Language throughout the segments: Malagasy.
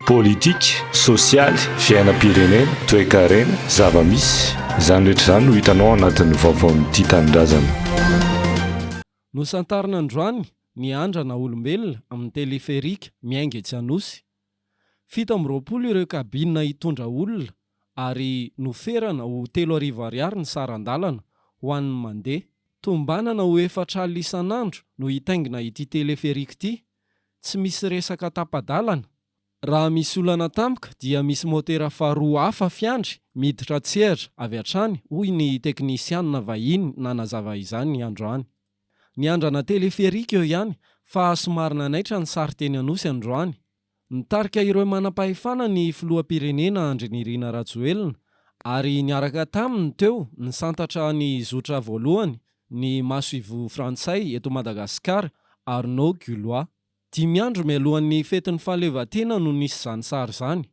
Politika, sosialy, fiainam-pirenena, toekarena, zava-misy. Izany rehetra izany no hitanao ao anatin'ny vaovaon'ity tanindrazana. Nosantarina androany ny andrana olombelona amin'ny teleferika miainga etsy Anosy. Fito amby roapolo ireo kabina hitondra olona ary noferana ho telo arivo ariary ny saran-dalana ho an'ny mandeha. Tombanana ho efatra alina isan'andro no hitaingina ity teleferika ity Tsy misy resaka tapa-dalana. Raha misy olana tampoka dia misy motera faharoa hafa fiandry miditra an-tsehatra avy hatrany, hoy ny teknisiana vahiny nanazava izany androany. Niandrana téléphérique eo ihany fa somary nanaitra ny sary teny Anosy androany. Nitarika ireo manam-pahefana ny filoham-pirenena Andry Nirina Rajoelina ary niaraka taminy teo nisantatra ny zotra voalohany ny masoivoho frantsay eto Madagasikara, Arnaud Gulois. Dimy andro mialohan'ny fetin'ny fahaleovantena no nisy izany sary izany.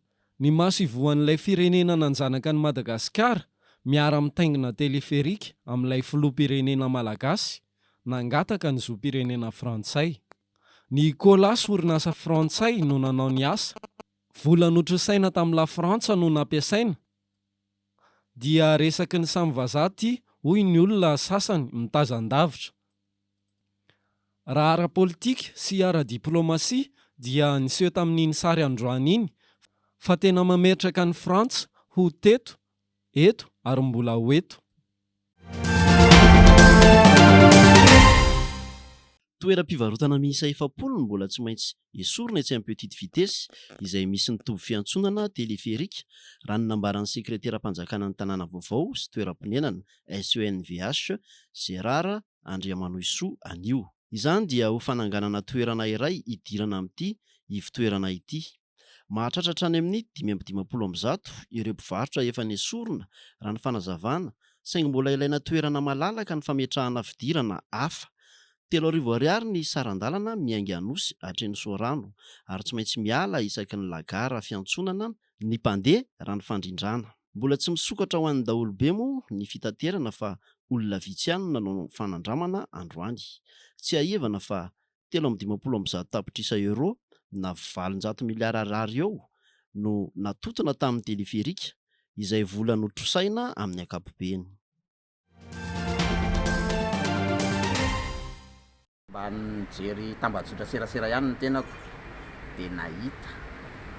Ny masoivohon'ilay firenena nanjanaka an'i Madagasikara miara-mitaingina teleferika amin'ilay filoham-pirenena malagasy nangataka ny zom-pirenena frantsay. Ny Colas orinasa frantsay no nanao ny asa. Vola notrosaina tamin'i Lafrantsa no nampiasaina. dia resaky ny samy vazaha ity hoy ny olona sasany mitazan-davitra. Raha ara-politika sy ara-diplaomasia dia niseho tamin'iny sary androany iny fa tena mametraka an'i Frantsa ho teto, eto ary mbola ho eto. Toeram-pivarotana miisa efapolo no mbola tsy maintsy esorina etsy amin'ny petite vitesse izay misy ny toby fiantsonana téléphérique, raha ny nambaran'ny sekreteram-panjakana ny tanàna vaovao sy toeram-ponenana, SENVH, Gérard Andriamanohisoa anio. Izany dia ho fananganana toerana iray hidirana amin'ity ivotoerana ity. Mahatratra hatrany amin'ny dimy amby dimampolo amby zato ireo mpivarotra efa nesorina, raha ny fanazavana, saingy mbola ilaina toerana malalaka ny fametrahana fidirana hafa. Telo arivo ariary ny saran-dalana miainga Anosy hatreny Soarano, ary tsy maintsy miala isaky ny lagara fiantsonana ny mpandeha, raha ny fandrindrana. Mbola tsy misokatra ho an'ny daholobe moa ny fitaterana fa olona vitsy ihany no nanao fanandramana androany. Tsiahivana fa telo amby dimampolo amby zato tapitrisa euros na valonjato miliara Ar eo no natontona tamin'ny teleferika, izay vola notrosaina amin'ny ankapobeny. Mba nijery tambajotra serasera ihany ny tenako dia nahita,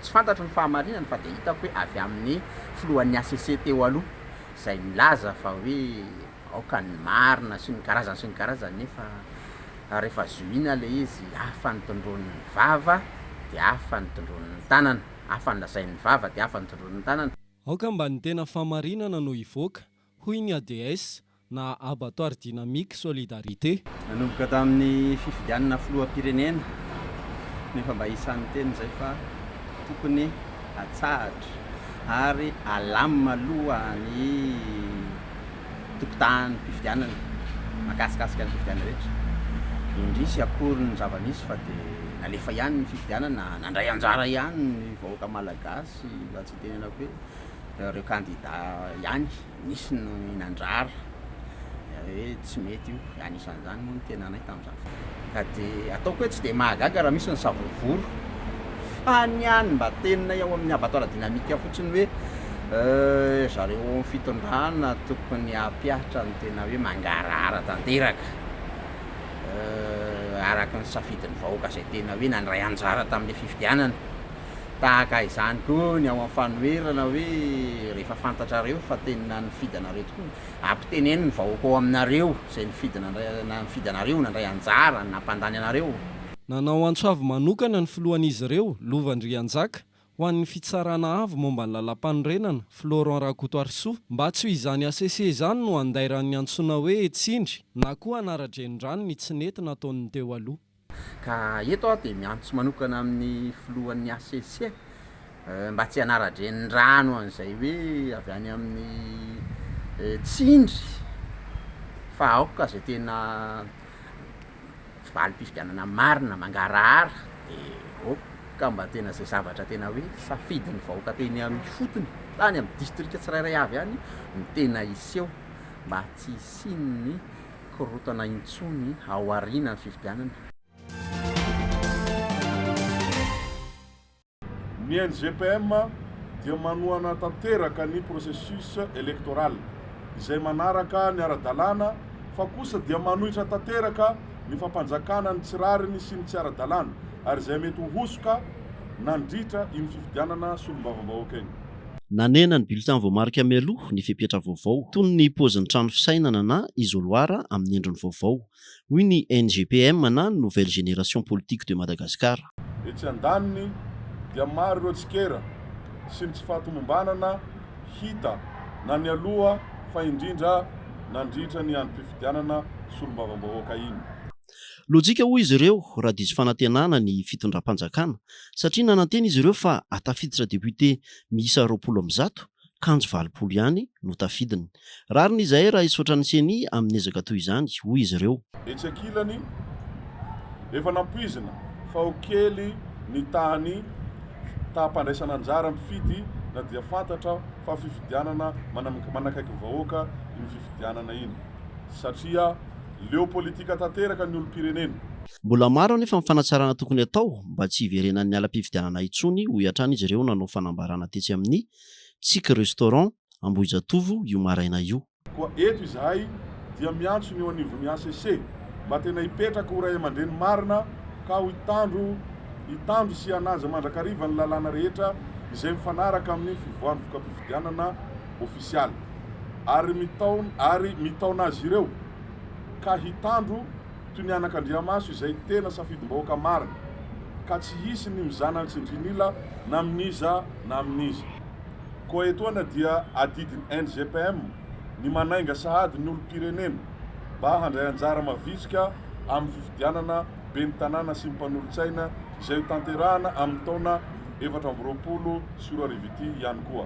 tsy fantatro ny fahamarinany fa dia hitako hoe avy amin'ny filohan'ny HCC teo aloha izay nilaza fa hoe, aoka ny marina sy ny karazany sy ny karazany nefa rehefa zohiana ilay izy hafa ny tondroin'ny vava dia hafa ny tondroin'ny tanana, hafa ny lazain'ny vava dia hafa ny tondroin'ny tanana. Aoka mba ny tena fahamarinana no hivoaka, hoy ny ADS na Abattoir Dynamique Solidarité. Nanomboka tamin'ny fifidianana filoham-pirenena no efa mba isan'ny niteny izay fa tokony atsahatra ary alamina aloha ny tokotanim-pifidianana mahakasikasika ny fifidianana rehetra, indrisy akory ny zava-nisy fa dia nalefa ihany ny fifidianana, nandray anjara ihany ny vahoaka malagasy, mba tsy hitenenako hoe ireo kandida ihany, nisy ny nandrara, hoe tsy mety io, anisan'izany moa ny tenanay tamin'izany. Ka dia ataoko hoe tsy dia mahagaga raha misy ny savony voro. Fa ny ahy ny mba tenina ao amin'ny abattoir dynamique fotsiny hoe euh zareo ao amin'ny fitondrana tokony hampiatra ny tena hoe mangarahara tanteraka euh araka ny safidin'ny vahoaka izay tena hoe nandray anjara tamin'ilay fifidianana. Tahaka izany koa ny ao amin'ny fanoherana hoe rehefa fantatrareo fa tena nifidy anareo tokoa ny. Ampiteneno ny vahoaka ao aminareo izay nifidy anareo, nandray anjara, nampandany anareo. Nanao antso avo manokana ny filohan'izy ireo, Lova Andrianjaka, ho an'ny Fitsarana Avo momba ny Lalàmpanorenana, Florent Rakotoarisoa, mba tsy ho izany hcc izany no handairan'ny antsoina hoe Tsindry na koa hanara-drenirano ny tsy nety nataon'ny teo aloha. Ka eto aho dia miantso manokana amin'ny filohan'ny hcc mba tsy hanara-drenirano an'izay hoe avy any amin'ny tsindry fa aoka izay tena valim-pifidianana marina mangarahara dia aoka mba tena izay zavatra tena hoe safidin'ny vahoaka teny amin'ny ifotony tany amin'ny distrika tsirairay avy any no tena hiseho mba tsy hisian'ny korontana intsony ao aorianan'ny fifidianana. Ny NGPM dia manohana tanteraka ny processus electoral izay manaraka ny ara-dalàna fa kosa dia manohitra tanteraka ny fampanjakana ny tsy rariny sy ny tsy ara-dalàna ary izay mety ho hosoka nandritra iny fifidianana solombavambahoaka iny. Nanena ny bulletin voamarika mialoha ny fepetra vaovao, toy ny paozin'ny trano fisainana na isoloir amin'ny endriny vaovao, hoy ny NGPM na Nouvelle Génération Politique de Madagascar. Etsy andaniny dia maro ireo tsikera sy ny tsy fahatomombanana hita na nialoha fa indrindra nandritra ny androm-pifidianana solombavambahoaka iny. Lojika hoy izy ireo raha diso fanantenana ny fitondram-panjakana satria nanantena izy ireo fa hatafiditra député miisa roapolo amby zato, kanjo valopolo ihany no tafidiny. Rariny izahay raha hisaotra ny ceni amin'ny ezaka toy izany, hoy izy ireo. Etsy ankilany, efa nampoizina fa ho kely ny tahan'ny taham-pandraisana anjara mpifidy na dia fantatra fa fifidianana manakaiky vahoaka iny fifidianana iny satria Leo politika tanteraka ny olom-pirenena. Mbola maro anefa ny fanatsarana tokony atao mba tsy hiverenan'ny alam-pifidianana intsony, hoy hatrany izy ireo nanao fanambarana tetsy amin'ny Tsiky Restaurant Ambohijatovo io maraina io. Koa eto izahay dia miantso ny eo anivon'ny hcc mba tena hipetraka ho ray aman-dreny marina ka hitandro hitandro sy hanaja mandrakariva ny lalàna rehetra izay mifanaraka amin'ny fivoahan'ny voka-pifidianana, ofisialy, ary mitaon ary mitaona azy ireo, ka hitandro toy ny anakandriamaso izay tena safidim-bahoaka marina, ka tsy hisy ny mizana an-tsindrin'ila na amin'iza na amin'iza. Koa etoana dia adidin'ny NGPM ny manainga sahady ny olom-pirenena mba handray anjara mavitrika amin'ny fifidianana ben'ny tanàna sy ny mpanolotsaina izay hotanterahana amin'ny taona efatra amby roapolo sy roa arivo ity ihany koa.